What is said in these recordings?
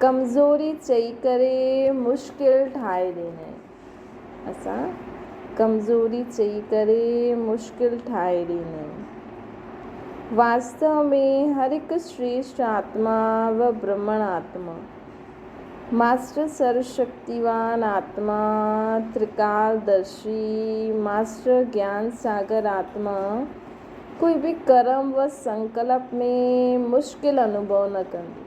ڪمزوري چئي ڪري مشڪل ٺاهي ڏنئي. اسان ڪمزوري چئي ڪري مشڪل ٺاهي ڏنئي. واستو ۾ هر هڪ شريشٽ آتما و برهمڻ آتما، ماسٽر سرو شڪتيوان آتما، ترڪال درشي، ماسٽر گيان ساگر آتما، ڪوئي به ڪرم و سنڪلپ ۾ مشڪل انوڀو نه ڪندو.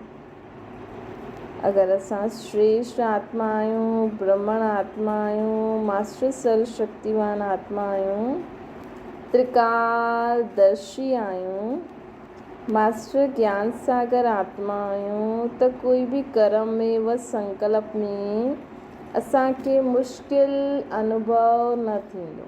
اگر اسان شريشٽ آتما آهيون، برهمڻ آتما آهيون، ماسٽر سيلف شڪتيوان آتما آهيون، ترڪار درشي آهيون، ماسٽر گيان ساگر آتما آهيون ته ڪوئي به ڪرم ۾ و سنڪلپ ۾ اسان کي مشڪل انوڀو نه ٿيندو.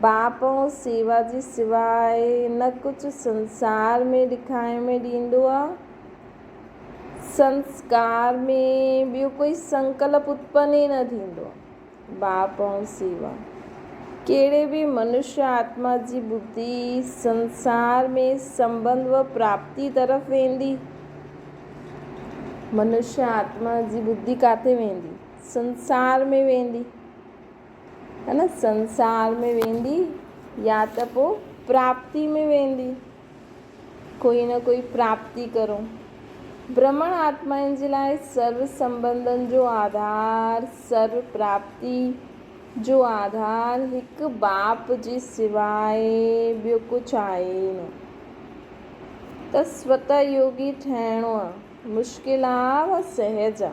باپو سيوا جي سواء نه ڪجهه سنسار ۾ ڏکائي ۾ ڏيندو آ. سنسڪار ۾ ٻيو ڪوئي سنڪلپ اتپن ئي نه ٿيندو. باپو سيوا ڪهڙي به منشيٰ آتما جي ٻڌي سنسار ۾ سنبنڌ و پراپتي طرف ويندي. منشيٰ آتما جي ٻڌي ڪاٿي ويندي؟ سنسار ۾ ويندي. هن سنسار ۾ ويندي يا ته پوء پراپتي ۾ ويندي. ڪوئي نه ڪوئي پراپتي ڪرو. برهمڻ آتمائن جي لاء سر سنبنڌن جو آڌار، سر پراپتي جو آڌار هڪ باپ جي سواء ٻيو ڪجهه آهي ئي نه. ته سوته يوگي ٺهڻو مشڪل آ و سهج آ.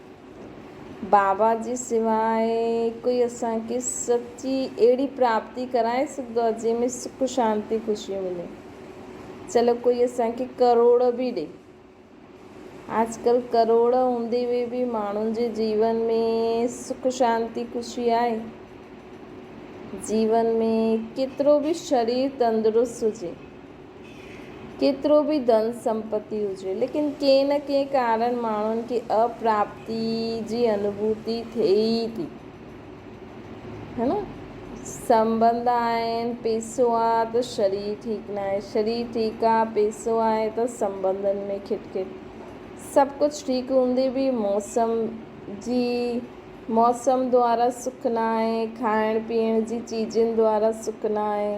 بابا جي سواء ڪوئي اسان کي سچي اهڙي پراپتي ڪرائي سگهندو آهي جنهن ۾ سک شانتي خوشيون ملن. چلو ڪوئي اسان کي ڪروڙ به ڏئي. آج ڪل ڪروڙ هوندي هوئي به ماڻهن جي جيون ۾ سک شانتي خوشي آهي؟ جيون ۾ ڪيترو به شرير تندرست هجي. ڪيترو به ڌن سمپتي هجي ليڪن ڪنهن نه ڪنهن ڪارڻ ماڻهن کي اپراپتي جي انڀوتي ٿئي ئي ٿي. ها نه؟ سنبنڌ آهن، پيسو آ ته شرير ٺيڪ ناهي، شرير ٺيڪ آ، پيسو آهي ته سنبنڌن ۾ کٽ کٽ. سڀ ڪجهه ٺيڪ هوندي به موسم جي موسم دوارا سک ناهي، کائڻ پيئڻ جي چيزن دوارا سک ناهي.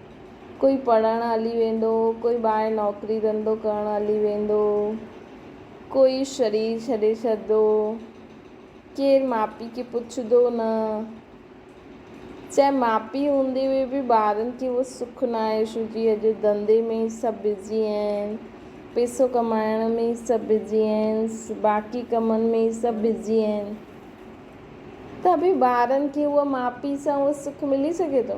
ڪوئي پڙهڻ هلي ويندو، ڪوئي ٻاهر نوڪري ڌنڌو ڪرڻ هلي ويندو، ڪوئي شرير ڇڏي ڇڏندو، ڪير ماء پيء کي پڇندو نه، چاهي ماء پيء هوندي هئي به ٻارن کي اهو سک ناهي شو جي اڄ ڌنڌي ۾ ئي سڀ بزي آهن، پيسو ڪمائڻ ۾ ئي سڀ بزي آهن، باقي ڪمن ۾ ئي سڀ بزي آهن ته به ٻارن کي اها ماء پيء سان اهو سک ملي سگهي ٿو؟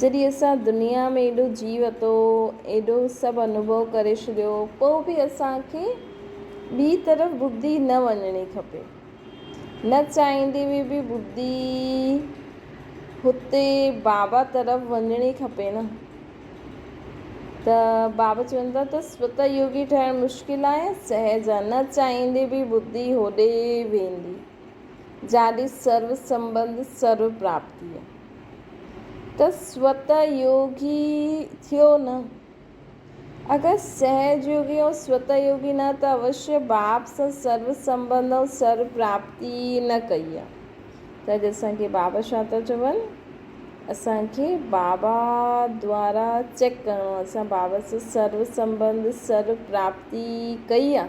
جڏهن اسان دنيا ۾ ايڏو جي وتو، ايڏو سڀ انوڀو ڪري ڇڏيو، پوء به اسان کي ٻي طرف ٻڌي نه وڃڻي کپي. نه چاهيندي هوئي به ٻڌي هتي بابا طرف وڃڻي کپي نه؟ ته بابا چون ٿا ته سوته يوگي ٺهڻ مشڪل آهي يا سهج آهي؟ نه چاهيندي به ٻڌي هوڏي ويندي. جاڏي سرو سنبنڌ سرو پراپتيء، ته سوت يوگي ٿيو نه. اگر سهج يوگي ۽ سوت يوگي نه ته اوشيء باب سان سرو سنبنڌ ۽ سرو پراپتي نه ڪئي ها، ته اڄ اسان کي بابا ڇا ٿا چون؟ اسان کي بابا دوارا چيڪ ڪرڻو، اسان بابا سان سرو سنبنڌ سرو پراپتي ڪئي ها.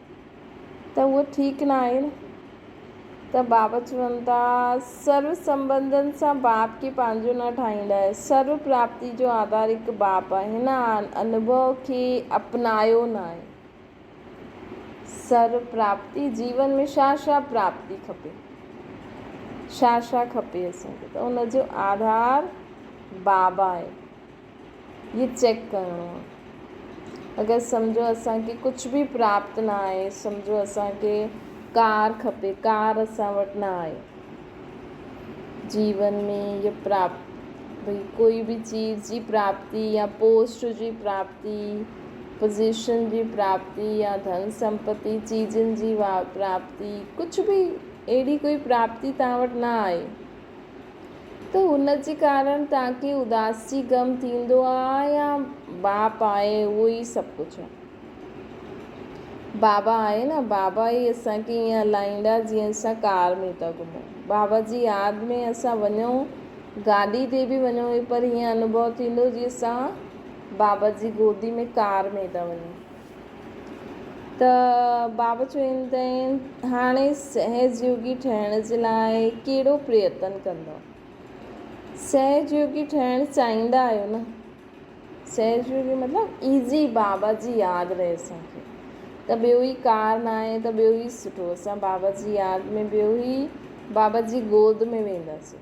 ته اهي ٺيڪ نه آهن ته باب چون ٿا، سرو سنبنڌن سان باب کي پنهنجو نه ٺاهڻ لاء سرو پراپتي جو آڌار هڪ باب آهي، هن انوڀو کي اپنايو نه آهي. سرو پراپتي جيون ۾ ڇا ڇا پراپتي کپي، ڇا ڇا کپي اسان کي ته ان جو آڌار باب آهي. هي چيڪ ڪرڻو آ اگر سمجهو اسان کي ڪجهه به پراپت نه آهي سمجهو اسان کي ڪار کپي ڪار اسان وٽ نه آهي جيون ۾ هي پراپت ڀئي ڪوئي به چيز جي پراپتي يا پوسٽ جي پراپتي پوزيشن جي پراپتي يا ڌن سمپتي چيزن جي پراپتي ڪجهه به اهڙي ڪوئي پراپتي توهان وٽ نه آهي ته ان جي ڪارڻ تاڪي اداس جي غم ٿيندو آ يا باپ آهي اهو ئي سڀ ڪجهه آ. بابا آهي نه بابا ئي اسان کي ائين هلائيندا جيئن اسان ڪار ۾ ٿا گهمون. بابا جي ياد ۾ اسان وڃون گاڏي تي به وڃون پر ائين انوڀو ٿيندو جيئن اسان بابا جي گودي ۾ ڪار ۾ ٿا وڃون. ته بابا چوندين، هاڻي سهجيوگي ٺهڻ جي لاء ڪهڙو پريتن ڪندؤ؟ سهجيوگي ٺهڻ چاهيندا آهيو نه؟ سهجيوگي مطلب ايزي بابا جي ياد رهي اسان کي ته ٻيو ئي ڪار ناهي ته ٻيو ئي سٺو اسان بابا جي ياد ۾ ٻيو ئي بابا جي گود ۾ وينداسين.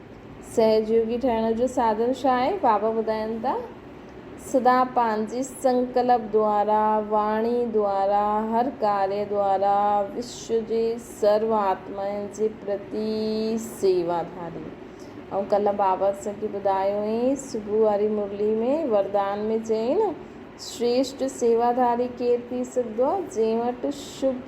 سهجيوگي ٺهڻ جو ساڌن ڇا آهي؟ بابا ٻڌائين ٿا، سدا پنهنجي سنڪلپ دوارا، واڻي دوارا، هر ڪاريه دوارا وشو جي سرو آتمائن جي پرتي سيوا ڌاري. آئون ڪلهه بابا اسان کي ٻڌايو هئي، صبح واري مرلي ۾ وردان ۾ چيائين، شريشٽ سيوا ڌاري ڪير ٿي سگهندو آهي؟ جنهن وٽ شڀ،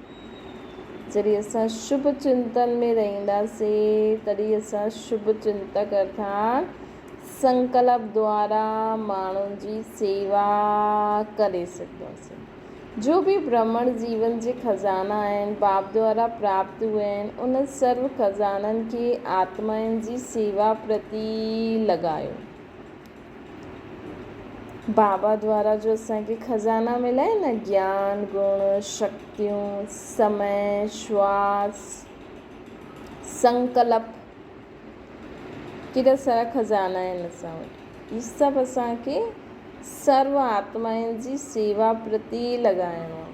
جڏهن اسان شڀ چنتن ۾ رهنداسين، تڏهن اسان شڀ چنتڪ ارٿات سنڪلپ دوارا ماڻهن جي سيوا ڪري سگهنداسين. جو به برهمڻ جيون جي خزانا آهن، باب دوارا پراپت هئي آهن، انهن سرو خزانن کي آتمائن جي سيوا پرتي لڳايو. بابا دوارا جو اسان کي خزانا مليا آهن نه گيان، گڻ، شڪتيون، سمئي، شواس، سنڪلپ ڪيڏا سارا خزانا آهن اسان وٽ هي سڀ اسان کي سرو آتمائن جي سيوا پرتي لڳائڻو آهي.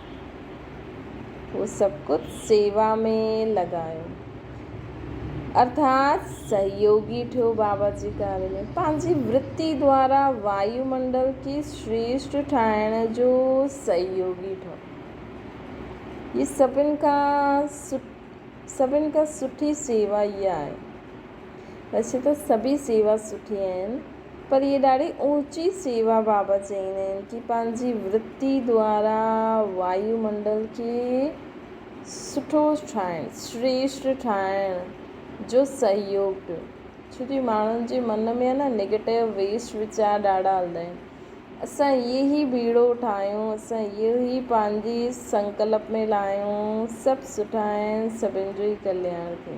هو سڀ ڪجهه سيوا ۾ لڳايو ارٿات سهيوگي ٺهيو بابا جي ڪارج ۾ پنهنجي ورتي دوارا وايو منڊل کي شريشٽ ٺاهڻ جو سهيوگي ٺهيو هي سڀن کان سڀن کان سٺي سيوا اها آهي ويسي ته سڀئي سيوا سٺي آهن پر اهي ڏاڍي اوچي سيوا بابت چئين آهن ڪي پنهنجي ورتي دوارا وايو منڊل کي سٺو ٺاهڻ، شريشٽ ٺاهڻ، جو سهيوگ ڏيو. ڇو جو ماڻهن جي من ۾ نه نيگيٽو ويسٽ ويچار ڏاڍا هلندا آهن. اسان اهي هي بيڙو ٺاهيون، اسان اهو هي پنهنجي سنڪلپ ۾ لاهيون، سڀ سٺا آهن، سڀن جو ئي ڪلياڻ ٿئي.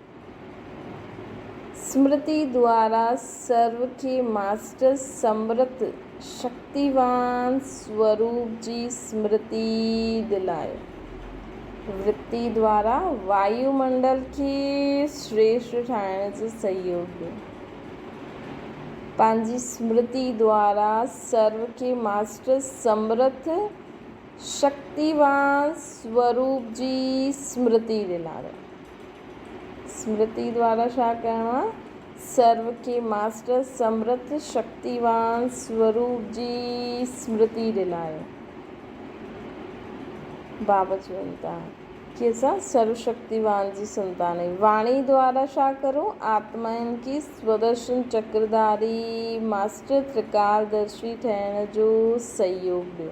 سمرتي دوارا سرو ٿي ماسٽر سمرت شڪتيوان سوروپ جي سمرتي دلائي. ورتي دوارا وايو منڊل کي شريشٽ ٺاهڻ جو سهيوگ ڏنو. پنهنجي سمرتي دوارا سرو کي ماسٽر سمرت شڪتيوان سوروپ جي سمرتي دلائي. سمرتي دوارا ڇا ڪرڻو آهي؟ سرو کي ماسٽر سمرٿ شڪتيوان سوروپ جي سمرتي ڏنائي. بابا چون ٿا ڪي اسان سرو شڪتيوان جي سنتان آهيون. واڻي دوارا ڇا ڪرو؟ آتمائن کي سودرشن چڪر ڌاري ماسٽر ترڪالدرشي ٺهڻ جو سهيوڳ ڏيو.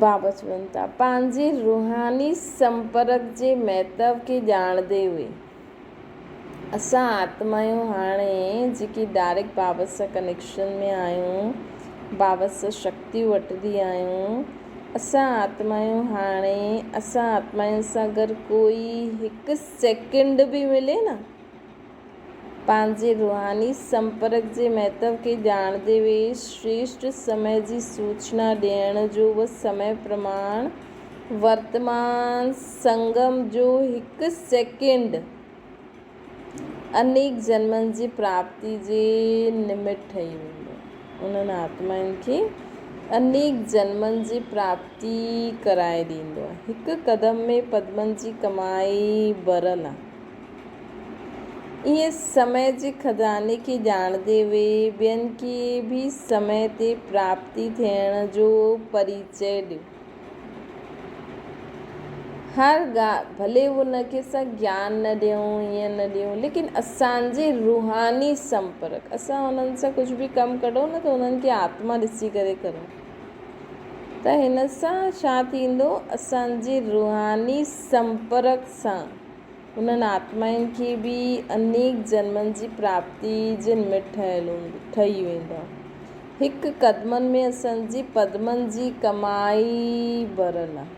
واپس وڃن ٿا پنهنجي روحاني سنپرڪ جي مهتو کي ڄاڻندي هئي اسان آتمايون هاڻي جيڪي ڊائريڪٽ بابت سان ڪنيڪشن ۾ آهيون بابت سان شڪتيون وٺندي آهيون اسان آتمايون هاڻي اسان آتمايون سان اگر ڪوئي هڪ سيڪنڊ به ملي نه پنهنجي روحاني سنپرڪ جي مهتو کي ڄاڻندي وي شريشٽ سمئي جي سوچنا ڏيڻ جو به سمئي پرماڻ ورتمان سنگم جو هڪ سيڪنڊ انيڪ جنمن جي پراپتي جي نمٽ ٺهي ويندو. انهن آتمائن کي انيڪ جنمن جي پراپتي ڪرائي ڏيندو. هڪ قدم ۾ پدمن جي ڪمائي ڀريل آهي. ايئن سمي جي خزاني کي ڄاڻندي اهي ٻين کي به سمي تي پراپتي ٿيڻ جو پريچئي ڏين. هر ڳالهه ڀلي ان کي اسان گيان نه ڏيون ايئن نه ڏيون ليڪن اسان جي روحاني سمپرڪ اسان انهن سان ڪجهه به ڪم ڪريو نه ته انهن کي آتما ڏسي ڪري ڪريو ته هن سان ڇا ٿيندو اسان جي روحاني سمپرڪ سان انهن آتمائن کي به انيڪ جنمن جي پراپتي جن ۾ ٺهيل هوندي ٺهي ويندو آهي. هڪ قدمن ۾ اسن جي پدمن جي ڪمائي ڀريل آهي.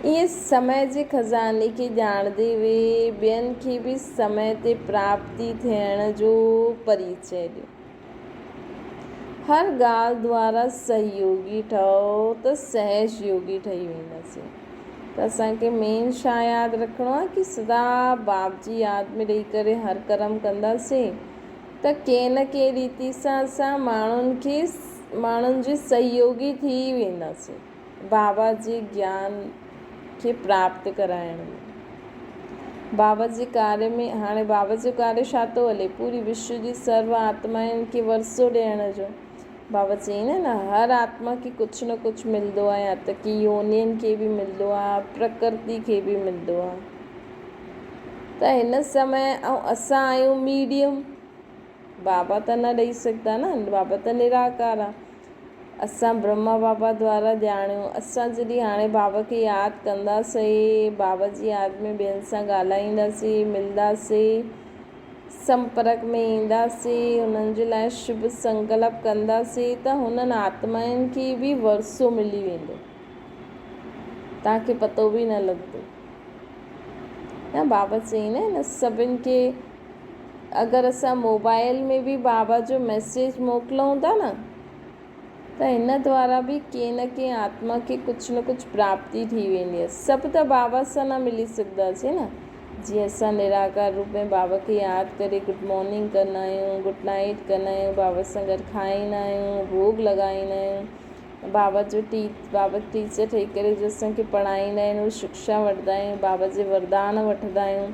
ايئن سمع جي خزاني کي ڄاڻندي وي ٻين کي به سمع تي پراپتي ٿيڻ جو پريچئي ڏيو. هر ڳالهه دوارا سهيوڳي ٺهو ته سهش يوڳي ٺهي وينداسين ته اسان کي مين شا ياد رکڻو آهي ڪي سدا باب جي ياد ۾ رهي ڪري هر ڪرم ڪنداسين ته ڪنهن نه ڪنهن ريتي سان اسان ماڻهن کي ماڻهن جي سهيوڳي ٿي وينداسين. بابا جي گيان کي پراپت ڪرائڻ ۾ بابا جي ڪاري ۾ هاڻي بابا جو ڪاري ڇا ٿو هلي پوري وشو جي سرو آتمائن کي ورسو ڏيڻ جو بابا چين ها نه هر آتما کي ڪجهه نه ڪجهه ملندو آهي يا ته ڪي يونين کي به ملندو آهي پرڪرتي کي به ملندو آهي ته هن سمي ۽ اسان آهيون ميڊيم بابا ته نه ڏئي سگهندا نه، بابا ته نراڪار آ. اسان برهما بابا دوارا ڄاڻيون، اسان جڏهن هاڻي بابا کي ياد ڪنداسين، بابا جي ياد ۾ ٻين سان ڳالهائينداسين، ملنداسين، سمپرڪ ۾ اينداسين، هنن جي لاء شڀ سنڪلپ ڪنداسين ته هنن آتمائن کي به ورثو ملي ويندو. توهان کي پتو به نه لڳندو. نه بابا چيائين نه هن سڀن کي اگر اسان موبائيل ۾ به بابا جو ميسيج موڪلون ٿا نه ته هن دوارا به ڪنهن نه ڪنهن آتما کي ڪجهه نه ڪجهه پراپتي ٿي ويندي آهي. سڀ ته بابا سان نه ملي سگهنداسين نه. جيئن اسان نراڪار روپ ۾ بابا کي ياد ڪري گڊ مارننگ ڪندا آهيون، گڊ نائيٽ ڪندا آهيون، بابا سان گڏ کائيندا آهيون، ڀوڳ لڳائيندا آهيون، بابا جو بابا ٽيچر ٺهي ڪري جو اسان کي پڙهائيندا آهن اهي شڪشا وٺدا آهيون، بابا جي وردان وٺدا آهيون،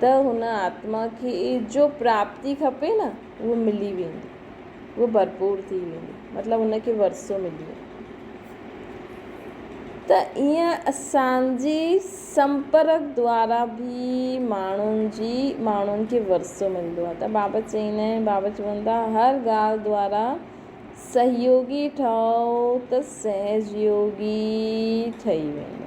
ته هن آتما کي جو پراپتي کپي نه اهو ملي ويندي، اهو ڀرپور ٿي ويندي، مطلب ان کي ورثو ملي ويندو. ته ايئن اسان جي سنپرڪ دوارا به ماڻهن جي ماڻهن کي ورثو ملندو آهي ته بابا چئيندا آهن بابا چون ٿا هر ڳالهه دوارا سهيوڳي ٺهو ته سهجيوڳي ٺهي ويندو.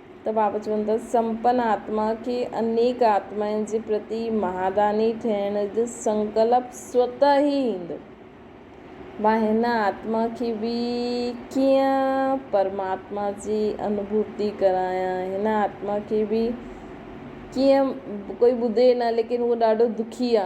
ته بابا چون ٿا، سمپن آتما کي انيڪ آتمائن جي پرتي مهاداني ٿيڻ جو سنڪلپ سوتهه ئي ايندو. مان هن آتما کي به ڪيئن پرماتما جي انڀوتي ڪرايان، هن آتما کي به ڪيئن ڪوئي ٻڌي نه ليڪن هو ڏاڍو دکي آ.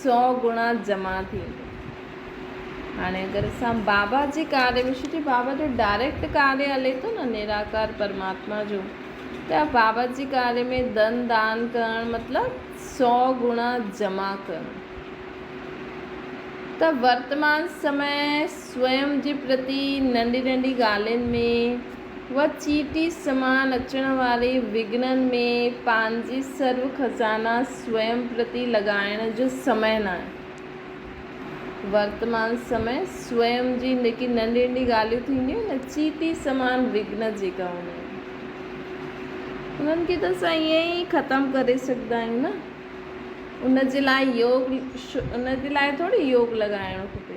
سو گڻا جمع ٿيندو. هاڻي اگر اسان بابا جي ڪاري ۾ شجي بابا جو ڊائريڪٽ ڪاري هلي ٿو نه نراڪار پرماتما جو ته بابا جي ڪاري ۾ ڌن دان ڪرڻ مطلب سو گڻا جمع ڪرڻ ته ورتمان سمي سوئم جي پرتي ننڍي ننڍي ڳالهين ۾ وچيٽي سمان اچڻ واري وگهنن ۾ پنهنجي سرو خزانا سوئم پرتي لڳائڻ جو سمئي ناهي. ورتمان سمئي سوئم جي جيڪي ننڍي ننڍي ڳالهيون ٿينديون آهن نه چيٽي سمان وگهن جيڪا هوندا آهن انهن کي ته اسان ائين ئي ختم ڪري سگهندا آهيون نه ان جي لاء يوگ ان جي لاء ٿوري يوگ لڳائڻو کپي.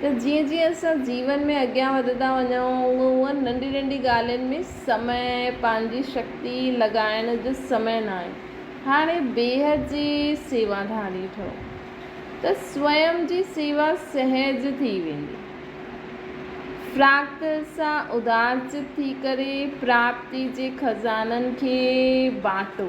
ته جيئن جيئن اسان جيون ۾ اڳيان وڌندا وڃون هونئن هونئن ننڍي ننڍي ڳالهين ۾ سمي پنهنجي شڪتي لڳائڻ جو سمي ناهي هاڻي بيهه جي سيوا ڌاري ٺهو ته سوئم جي سيوا سهج ٿي ويندي فراخت سان ادارچت ٿي ڪري پراپتي جي خزانن کي بانٽو.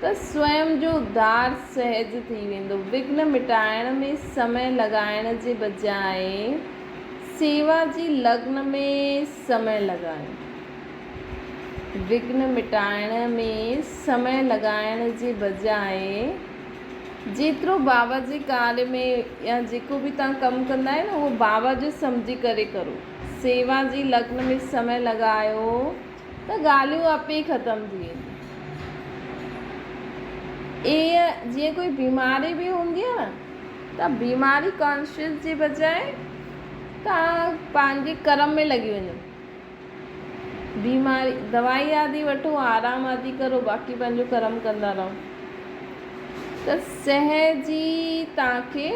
ته سوئم جو ادھار سهج ٿي ويندو. وگهن مٽائڻ ۾ سمئي لڳائڻ جي بجاء سيوا جي لگن ۾ سمئي لڳايو. وگهن مٽائڻ ۾ سمئي لڳائڻ جي بجاء جيترو بابا جي ڪارج ۾ يا جيڪو به توهان ڪم ڪندا آهيو نه اهو بابا جو سمجهي ڪري ڪرو. سيوا جي لگن ۾ سمئي لڳايو. ته ڳالهيون اپ ئي ختم ٿي وينديون. ائين جيئن ڪوئي بيماري به هوندي آهي نه ته بيماري ڪانشيس جي بجاء تان پنهنجي ڪرم ۾ لڳي وڃو. بيماري دوائي آدي وٺو آرام آدي ڪرو باقي پنهنجو ڪرم ڪندا رهو ته سهج ئي تان کي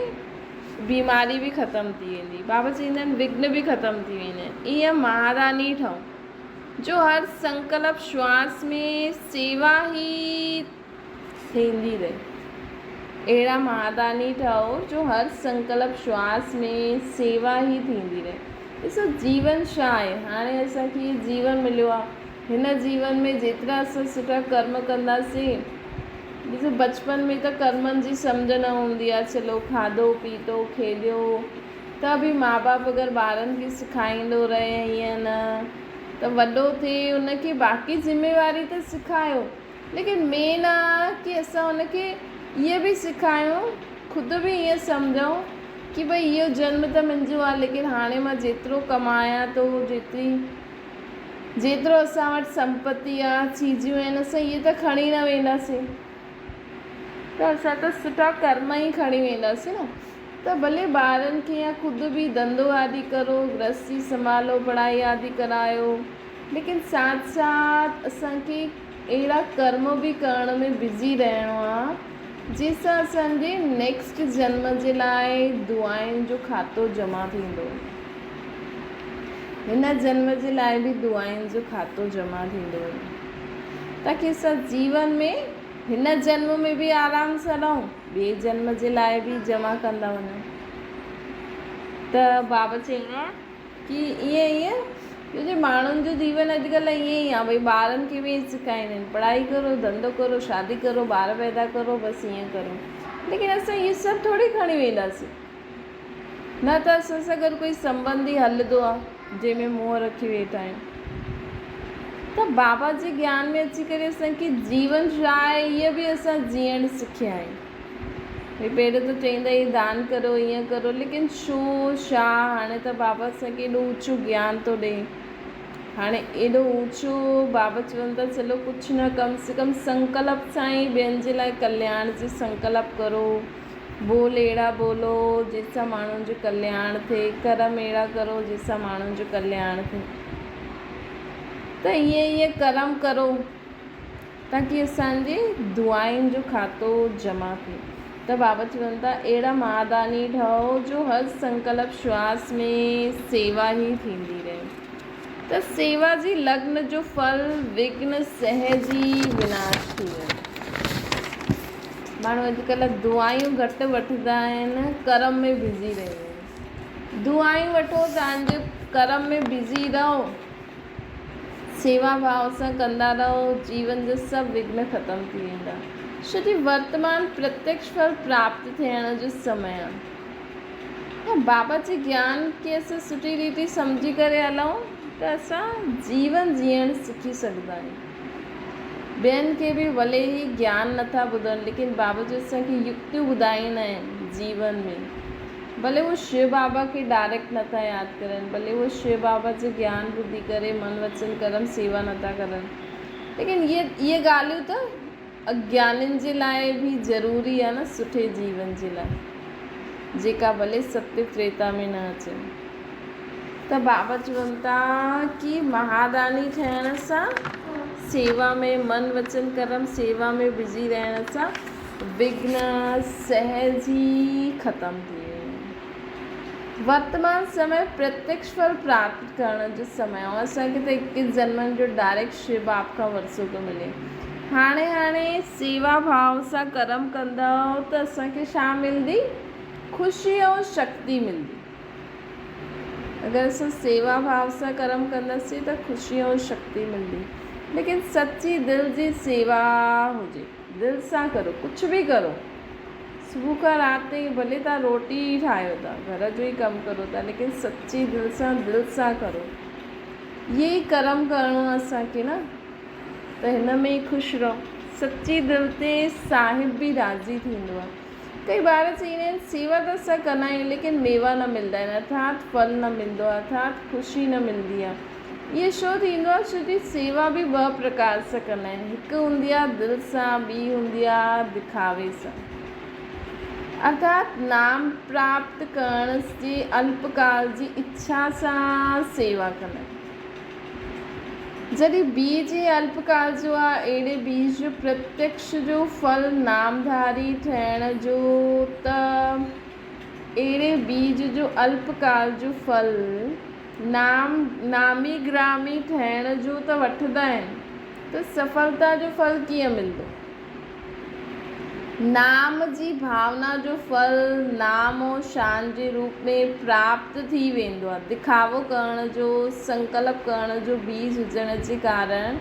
بيماري به ختم ٿي ويندي. بابا چئيندا آهن وگهن به ختم ٿي ويندا آهن. ائين مهاراني ٺهو. جو هر سنڪلپ شواس ۾ سيوا ئي ٿيندي رهي. اهڙا مهاداني ٺهو جو هر سنڪلپ شواس ۾ سيوا ئي ٿيندي رهي. ڏسو جيون ڇا آهي؟ هاڻي اسان کي هي جيون مليو آهي. هن جيون ۾ جيترا اسان سٺا ڪرم ڪنداسين، ڏسو بچپن ۾ ته ڪرمن جي سمجهه نه هوندي آهي، چلو کاڌو پيتو کيڏيو، ته به ماء باپ اگر ٻارن کي سکائيندو رهي هيئن نه ته وڏو ٿي ان کي باقي ذميواري ته سکايو ليڪن مين آ ڪي اسان ان کي اهي به سکايون خود به ايئن سمجهون ڪي ڀئي اهو جنم ته منهنجو آ ليڪن هاڻي مان جيترو ڪمايان ٿو جيتري جيترو اسان وٽ سمپتي آ چيزيون آهن اسان اهي ته کڻي نه وينداسين ته اسان ته سٺا ڪرم ئي کڻي وينداسين نه ته ڀلي ٻارن کي يا خود به ڌنڌو آدي ڪرو، گرهستي سنڀالو، پڙهائي آدي ڪرايو، ليڪن ساٿ ساٿ اسان کي اهڙا ڪرم به ڪرڻ ۾ بزي رهڻو آ، جنهن سان اسان جي نيڪسٽ جنم جي لاء دعائن جو کاتو جمع ٿيندو. هن جنم جي لاء به دعائن جو کاتو جمع ٿيندو، تاڪي اسان جيون ۾ هن جنم ۾ به آرام سان رهون. ٻئي جنم جي لاء به جمع ڪندا وڃو ته بابا چيو آهي ڪي ائين ائين جو جي ماڻهن جو جيون اڄڪلهه ائين ئي آهي ڀئي ٻارن کي به ائين سکائيندا آهن پڙهائي ڪرو ڌنڌو ڪرو شادي ڪرو ٻار پيدا ڪرو بس ائين ڪرو ليڪن اسان هي سڀ ٿوري کڻي وينداسين نه ته اسان سان گڏ ڪوئي سنٻنڌي هلدو آ، جنهن ۾ منهن رکي ويٺا آهيون ته بابا جي گيان ۾ اچي ڪري اسان کي جيون ڇا آهي هيء به اسان جيئڻ سکيا آهيون. ڀئي پهريون ته چئيندا هي دان ڪرو هيئن ڪرو ليڪن ڇو ڇا هاڻي ته بابا اسان کي ايڏو اوچو گيان ٿو ڏئي هاڻي ايڏو اوچو بابا چون ٿا چلو ڪجهه نه ڪم سي ڪم سنڪلپ سان ئي ٻين جي لاء ڪلياڻ جي سنڪلپ ڪرو. بول اهڙا ٻولو، جن سان ماڻهن جو ڪلياڻ ٿئي، ڪرم اهڙا ڪرو، جن سان ماڻهن جو ڪلياڻ ٿئي. ته ائين ائين ڪرم ڪرو، تاڪي اسان جي دعائن جو کاتو جمع ٿئي. ته بابا چون ٿا، اهڙا مهاداني ٺهو، جو هر سنڪلپ شواس ۾ سيوا ئي ٿيندي رهي. ته سيوا جي لگن جو ڦل وگهن سهجي وناش ٿي ويندو. ماڻهو اڄڪلهه دعائون گهٽ وٺندا آهن، ڪرم ۾ بزي رهندا آهن. دعائون وٺو تانجو ڪرم ۾ بزي رهو، سيوا ڀاء سان ڪندا رهو، جيون جا سڀ وگهن ختم ٿي ويندا. ڇو جي ورتمان پرتيڪش ڦل پراپت ٿيڻ جو سمي آهي. بابت جي گيان کي اسان سٺي ريتي سمجهي ڪري هلون ته اسان جيون جيئڻ سکي سگهندا آهيون. ٻين کي به ڀلي هي گيان نٿا ٻڌن ليڪن بابا جي اسان کي يڪتيون ٻڌائيندا آهن جيون ۾. ڀلي هو شو بابا کي ڊائريڪٽ نٿا ياد ڪرن، ڀلي هو شو بابا جي گيان ٻڌي ڪري من وچن ڪرم سيوا نٿا ڪرن ليڪن اهي ڳالهيون ته اگيانين جي لاء به ضروري آ نه سٺي جيون جي لاء جيڪا ڀلي ستي تريتا ۾ نه اچن ته بابا چون ٿا ڪي مهاداني ٺهڻ سان سيوا ۾ من وچن ڪرم سيوا ۾ بزي رهڻ سان وگهن سهج ئي ختم ٿي ويندا آهن. ورتمان سمي پرتيڪش ڦل پراپت ڪرڻ جو سمي آهي. اسان کي ته اڪيس جنمن جو ڊائريڪٽ شو باپ کان ورثو ٿو ملي. هاڻي هاڻي سيوا ڀاء سان ڪرم ڪندؤ ته اسان کي ڇا ملندي؟ خوشي ۽ شڪتي ملندي. اگر اسان سيوا ڀاء سان ڪرم ڪنداسين ته خوشي ۽ شڪتي ملندي. ليڪن سچي دل جي سيوا هجي. دل سان ڪرو ڪجھ به ڪرو صبح کان رات تائين ڀلي تھان روٽي ئي ٺاھيو ٿا گھر جو ئي ڪم ڪرو ٿا ليڪن سچي دل سان دل سان ڪرو اھي ئي ڪرم ڪرڻو آھي اسان کي نه ته ھن ۾ ئي خوش رھو سچي دل تي صاحب به راضي ٿيندو آھي ڪي ٻار چئيندا آھن سيوا ته اسان ڪندا آھيون ليڪن ميوا نه ملدا آھن ارٿات ڦل نه ملدو آھي ارٿات خوشي نه ملدي آھي اهو شو ٿيندو آهي ڇو جي سيوا به ٻه پرڪار سان ڪندا آهن هڪ هوندي آهي دل سان ٻي هوندي آهي دکاوي سان ارٿات نام پراپت ڪرڻ جي الپ ڪال جي اڇا سان سيوا ڪندا آهن جڏهن بيج هي الپ ڪال جو آهي اهڙي بيج جو پرتيڪش جو ڦل نامڌاري ٺهڻ جو ته اهڙي بيج جو الپ ڪال جو ڦل نام، نامي گرامي ٿيڻ جون ته وٺندا آهن ته سڦلتا جو ڦل ڪيئن ملندو؟ نام جي ڀاونا جو ڦل نام و شان جي روپ ۾ پراپت ٿي ويندو آهي. دکاوو ڪرڻ جو، سنڪلپ ڪرڻ جو بيج هجڻ جي ڪارڻ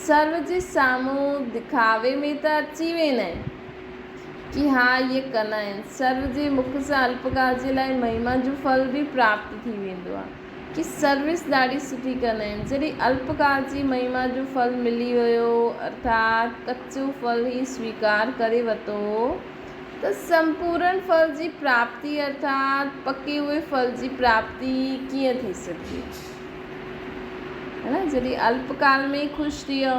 سرو جي سامهون دکاوي ۾ ته اچي ويندا آهن. جي ها اهي ڪن آهن. سرو جي مک سان الپڪار جي لاء مهما جو ڦل به پراپت ٿي ويندو آهي. جي سروس ڏاڍي سٺي ڪن آهن. جڏهن الپڪار جي مهما جو ڦل ملي ويو ارٿات ڪچو ڦل هي سويڪار ڪري ورتو ته سمپورڻ ڦل جي پراپتي ارٿات پڪي هئي ڦل جي پراپتي ڪيئن ٿي سگهي. جڏهن الپڪار ۾ ئي خوش ٿي ويو.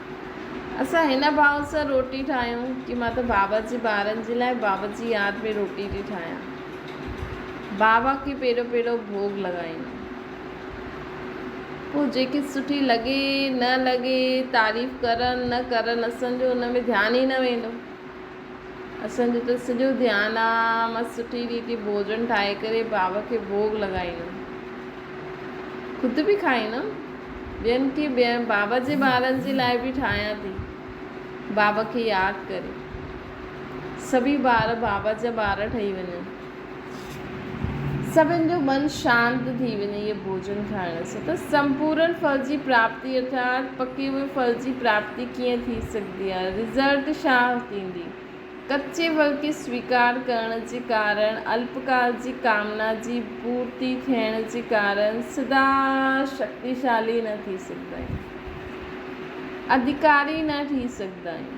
اسان هن ڀاء سان روٽي ٺاهيون ڪي مان ته بابا جي ٻارن جي لاء بابا جي ياد ۾ روٽي ٿي ٺاهيان بابا کي پيڙو پيڙو ڀوڳ لڳائيون پوء جيڪي سٺي لڳي نه لڳي تعريف ڪرن نه ڪرن اسان جو ان ۾ ڌيان ئي نه ويندو. اسان جو ته سڄو ڌيان آ مس سٺي ريتي ڀوڄڻ ٺاهي ڪري ڀاء کي ڀوڳ لڳائيندم. خود به کائيندم. ٻين کي به ۽ ڀاء جي ٻارن جي لاء به ٺاهيان ٿي. ڀاء کي ياد ڪري سڀئي ٻار ڀاء جا ٻار ٺهي وڃن. سڀن جو من شانت ٿي وڃي اهي ڀوڄن کائڻ سان ته سمپورن ڦل جي پراپتي ارٿات پڪي هئي ڦل جي پراپتي ڪيئن ٿي سگهندي آهي رزلٽ شاه ٿيندي ڪچي ڦل کي سويڪار ڪرڻ جي ڪارڻ الپڪال جي ڪامنا جي پورتي ٿيڻ جي ڪارڻ سدا شڪتيشالي نه ٿي سگهندا آهيون اڌيڪاري نه ٺهي سگهندا آهيون.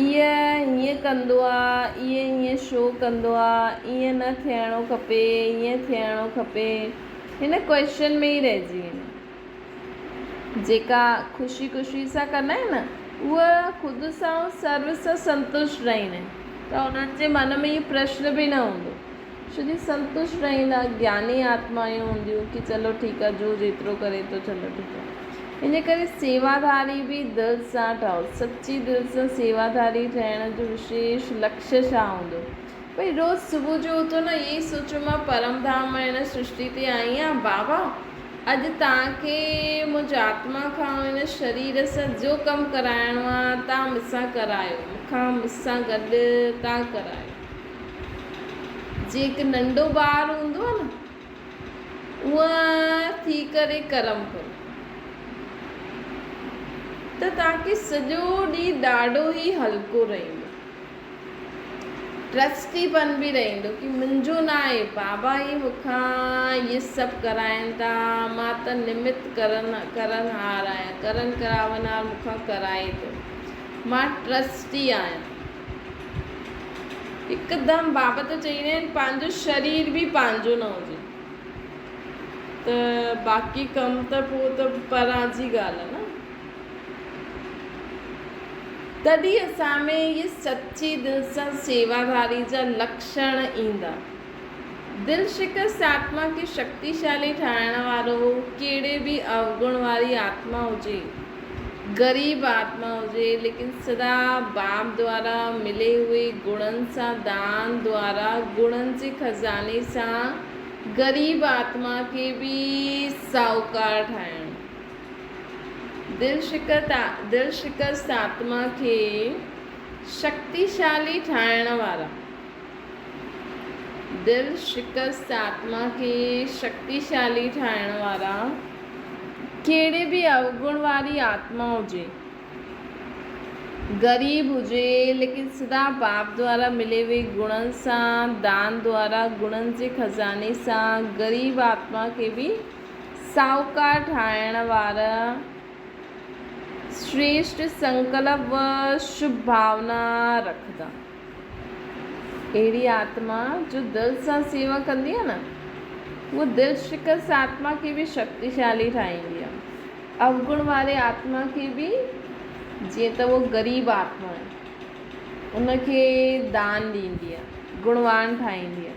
ايء هيئن ڪندو آ، ايء هيئن شو ڪندو آ، ايئن نه ٿيڻو کپي، هيئن ٿيڻو کپي، هن ڪوئشن ۾ ئي رهجي ويندين. جيڪا خوشي خوشي سان ڪندا آهن نه، اهي خود سان ۽ سرو سان سنتوشٽ رهندا آهن، ته انهن جي من ۾ اهو پرشن به نه هوندو. شري سنتوش رهيندا گياني آتمايون هونديون ڪي چلو ٺيڪ آ جو جيترو ڪري ٿو چلو ٺيڪ آ انهي ڪري سيواڌاري به دل سان ٺهو سچي دل سان سيواڌاري ٺهڻ جو وشيش لڪش ڇا هوندو ڀئي روز صبح جو اٿو نه اهي ئي سوچو مان پرم ڌام مان هن سرشتي تي آئي آهيان بابا اڄ توهان کي منهنجي آتما کان ۽ هن شرير سان جو ڪم ڪرائڻو آ توهان مون سان ڪرايو مون کان مون سان گڏ توهان ڪرايو. جيڪ ننڍو ٻار هوندو آهي نه اونء ٿي ڪري ڪرم ڪرو ته توهان کي سڄو ڏينهن ڏاڍو ئي هلڪو رهيندو ٽرسٽي پن به رهيندو ڪي منهنجو نه آهي بابا ئي مون کان هي سڀ ڪرائين ٿا مان ته نمت ڪرن ڪرنهار آهيان ڪرن ڪراونهار مون کان ڪرائي ٿو مان ٽرسٽي آهيان. هڪدم بابا ته چئيندا آهن پنهنجو شرير به پنهنجو نه هجي ته باقي ڪم ته پوء ته پران جي ڳالهه آهي نه تڏهن اسان ۾ اهي سچي دل سان سيواداري جا لڪشڻ ايندا. دل شڪست آتما کي شڪتيشالي ٺاهڻ وارو ڪهڙي به اوگڻ واري آتما هجي، غريب آتما هجي ليڪن سدا باب دوارا ملي هئي گڻن سان دان دوارا گڻن جي خزاني سان غريب آتما کي به ساهوڪار ٺاهڻ. دل شڪست آتما کي شڪتيشالي ٺاهڻ وارا. دل شڪست آتما کي شڪتيشالي ٺاهڻ وارا ڪهڙي به اوگڻ واري آتما هجي، غريب هجي ليڪن سدا باپ دوارا ملي وئي گڻن سان دان دوارا گڻن جي خزاني سان غريب آتما کي به ساهوڪار ٺاهڻ وارا شريشٽ سنڪلپ و شڀ ڀاونا رکندا. اهڙي آتما جو دل سان سيوا ڪندي آهي نه، اها دل شڪست آتما کي به شڪتيشالي ٺاهيندي آهي. اوگڻ واري آتما کي به جيئن ته اها غريب آتما آهي، ان کي دان ڏيندي آهي، گڻوان ٺاهيندي آهي.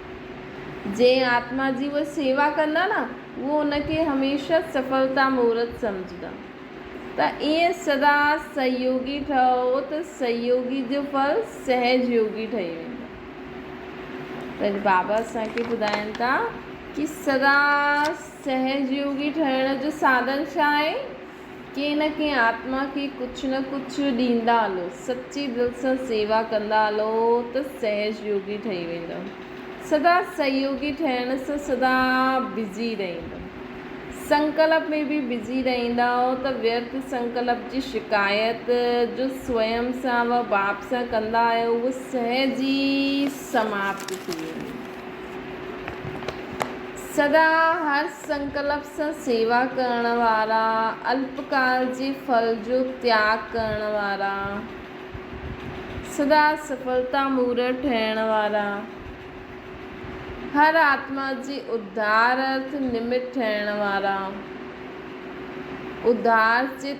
جنهن آتما جي اهي سيوا ڪندا نه اهي ان کي هميشه سڦلتا مورت سمجهندا ته ائين سدا سهيوڳي ٺهو ته سهيوڳي جو ڦل سهج يوڳي ٺهي ويندو ته بابا اسان کي ٻڌائين ٿا ڪي سدا سهج يوڳي ٺهڻ جو ساڌن ڇا آهي؟ ڪنهن نه ڪنهن آتما کي ڪجهه نه ڪجهه ڏيندا هلو، سچي دل سان سيوا ڪندا هلو ته سهج يوگي ٺهي ويندؤ. سدا سهيوگي ٺهڻ سان سدا بزي رهيندؤ. سنڪلپ ۾ به بزي رهيندؤ ته ويرٿ سنڪلپ جي شڪايت جو سوئم سان و ٻاپ سان ڪندا آهيو اهو سهج ئي سماپت ٿي ويندي. سدا هر سنڪلپ سان سيوا ڪرڻ وارا، الپ ڪال جي ڦل جو تياڳ ڪرڻ وارا، سدا سڦلتا مورڙ ٺهڻ وارا، هر آتما جي اڌار ارٿ نمت ٺهڻ وارا، اڌار چت،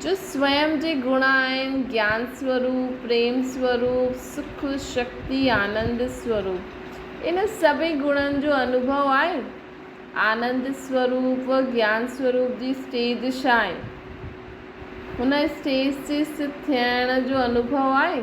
جو سوئم جي گڻ آهن، گيان سوروپ، پريم سوروپ، سک، شڪتي، آنند سوروپ. ان سڀئي گڻن جو انوڀو آهي. آنند سوروپ و گيان سوروپ جي اسٽيج ڇا آهي؟ هن اسٽيج تي سٿ ٿيڻ جو انوڀو آهي.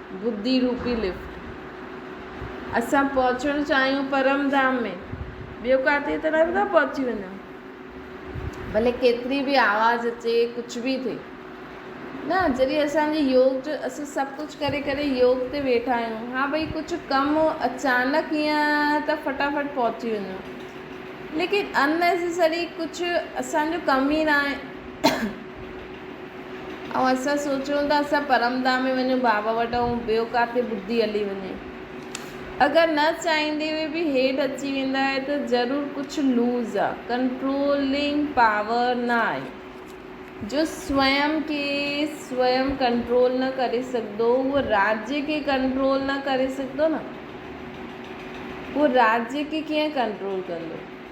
ٻڌي روپي لفٽ. اسان پهچڻ چاهيون پرم ڌام ۾، ٻيو ڪاٿي ته نه ٿا پهچي وڃون. ڀلي ڪيتري به آواز اچي، ڪجهه به ٿئي. نه جڏهن اسان جي يوگ جو اسان سڀ ڪجهه ڪري ڪري يوگ تي ويٺا آهيون. ها ڀئي ڪجهه ڪم اچانڪ ايئن ته فٽافٽ پهچي وڃون. ليڪن ان نيسيسري ڪجهه اسان جو ڪم ئي ناهي. ۽ اسان سوچيون ته اسان پرمداح ۾ وڃون بابا وٽ ۽ ٻيو ڪاٿي ٻڌي هلي وڃي. اگر نه چاهيندي هوئي به هيٺ اچي ويندا آهي ته ضرور ڪجهه لوز آ، ڪنٽرولنگ پاور نه آهي. جو سوئم کي سوئم ڪنٽرول نه ڪري سگهندو اهو راجي کي ڪنٽرول نه ڪري سگهندو نه اهو راجي کي ڪيئن ڪنٽرول ڪندو.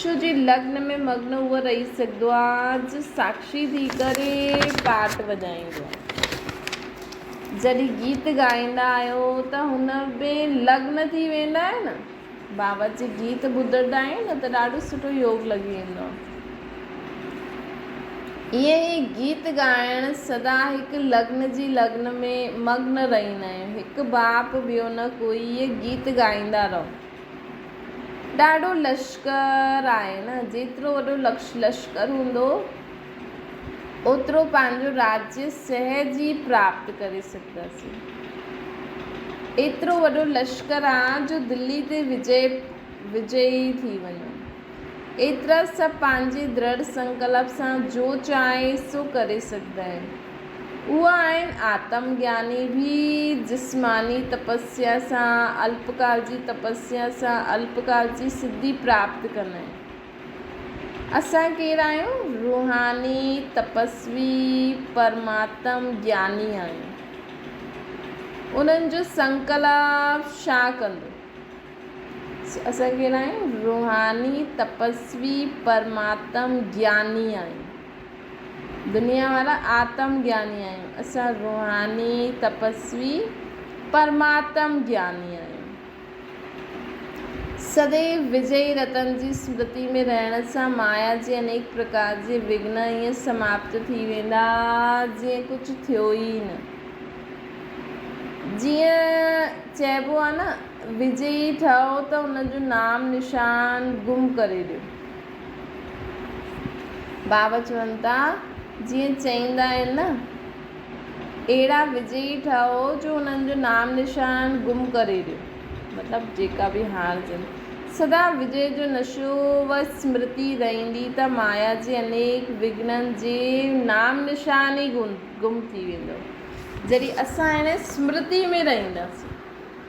شو جي لگن ۾ مگن اهو رئيس سگهندو آ جو ساکشي ٿي ڪري پارٽ وڄائيندو آ. جڏهن گيت ڳائيندا آهيو ته هن ۾ لگن ٿي ويندا آهيو نه. بابت جي گيت ٻڌندا آهيون نه ته ڏاڍو سٺو يوگ لڳي ويندو آ. ائين ئي گيت ڳائڻ سدا هڪ لگن جي لگن ۾ مگن رهيندا آهيون. هڪ ڀاپ ٻيو نه ڪوئي ائين گيت ڳائيندا رهو. ڏاڍو لشڪر آهن، جيترو وڏو لشڪر هوندو، اوترو پنهنجو راڄ سهج ئي پراپت ڪري سگهنداسين. ايترو وڏو لشڪر آ، جو دلي تي وجئي ٿي وڃون. ايترا سڀ پنهنجي دڙ سنڪلپ سان جو چاهين سو ڪري سگهندائين. اهي آهن آتم گياني ڀي جسماني تپسيا سان الپڪار جي تپسيا سان الپڪار جي سڌي پراپت ڪن ۽ اسان ڪير آهيون روحاني تپسوي پرماتم گياني آهيون انهن جو سنڪلپ شاه ڪندو اسان ڪير آهيون روحاني تپسوي پرماتم گياني آهيون. دنيا وارا آتم گياني آهيون، اسان روحاني، تپسوي، پرماتم گياني آهيون. سديو وجئي رتن جي سمرتي ۾ رهڻ سان مايا جي انيڪ پرڪار جي وگهن ائين سماپت ٿي ويندا جيئن ڪجهه ٿيو ئي نه. جيئن چئبو آهي نه وجئي ٺهو ته ان جو نام نشان گم ڪري ڏيو. بابا چوندا جيئن چئيندا آهن نه اهڙا وجهي ٺاهو جو انهن جو نام نشان گم ڪري ڏيو مطلب جيڪا به هاڻ جن سدا وجهي جو نشو و اسمرتي رهندي ته مايا جي انيڪ وگهنن جي نام نشان ئي گم ٿي ويندو جڏهن اسان هن اسمرتي ۾ رهنداسين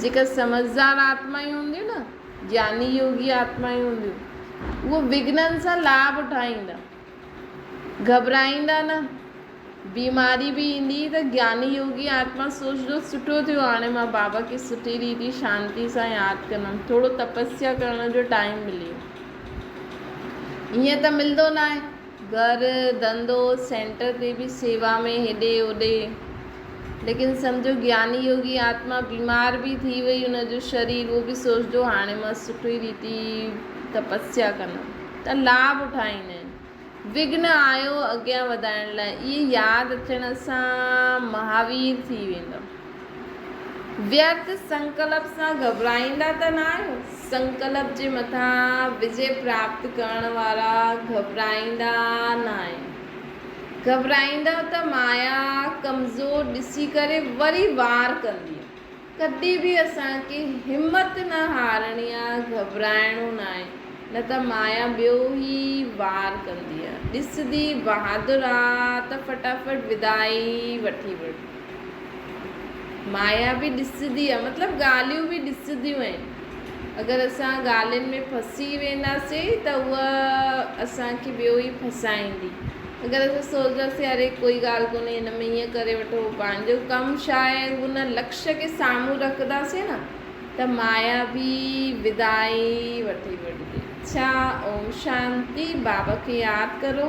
جيڪي سمجهدار آتمائون هونديون نه، جياني يوگي آتمائون هونديون، اهي وگهنن سان لاڀ اٺائيندا. گهٻرائيندا نه. بيماري به ايندي ته جياني يوگي آتما سوچدو سٺو ٿيو هاڻي مان بابا کي سٺي ريتي شانتي سان ياد ڪندم، ٿورو تپسيا ڪرڻ جو ٽائيم ملي ويو. ائين ته ملندو ناهي. گهر، ڌنڌو، سينٽر تي به سيوا ۾ هيڏي هوڏي. ليڪن سمجهو گياني يوگي آتما بيمار به ٿي وئي ان جو شرير اهو به سوچدو هاڻي مان سٺي ريتي تپسيا ڪندم ته لاڀ اٺائيندين. وگهن آيو اڳيان وڌائڻ لاء اهي ياد اچڻ سان مهاوير ٿي ويندو. ويرت سنڪلپ سان گهٻرائيندا ته نه آهيو؟ سنڪلپ جي مٿان وجي پراپت ڪرڻ وارا گهٻرائيندا نه آهن. گهٻرائيندؤ ته مايا ڪمزور ڏسي ڪري وري وار ڪندي. ڪڏهن به اسان کي همت نه هارڻي آهي، گهٻرائڻو نه آهي، نه ته مايا ٻيو ئي وار ڪندي. ڏسندي بهادر آ ته فٽافٽ وداعي وٺي وڙ. مايا به ڏسجندي آهي مطلب ڳالهيون به ڏسجنديون آهن اگر اسان ڳالهين ۾ ڦسي وينداسين ته هوء اسانکي ٻيو ئي ڦسائيندي اگر اسان سوچنداسين اري ڪوئي ڳالهه ڪونهي هن ۾ ائين ڪري وٺو پنهنجو ڪم ڇا آهي ان لڪشيه کي سامهون رکنداسين نه ته مايا به بدائي وٺي وٺندي ڇا اوم شانتي بابا کي ياد ڪرو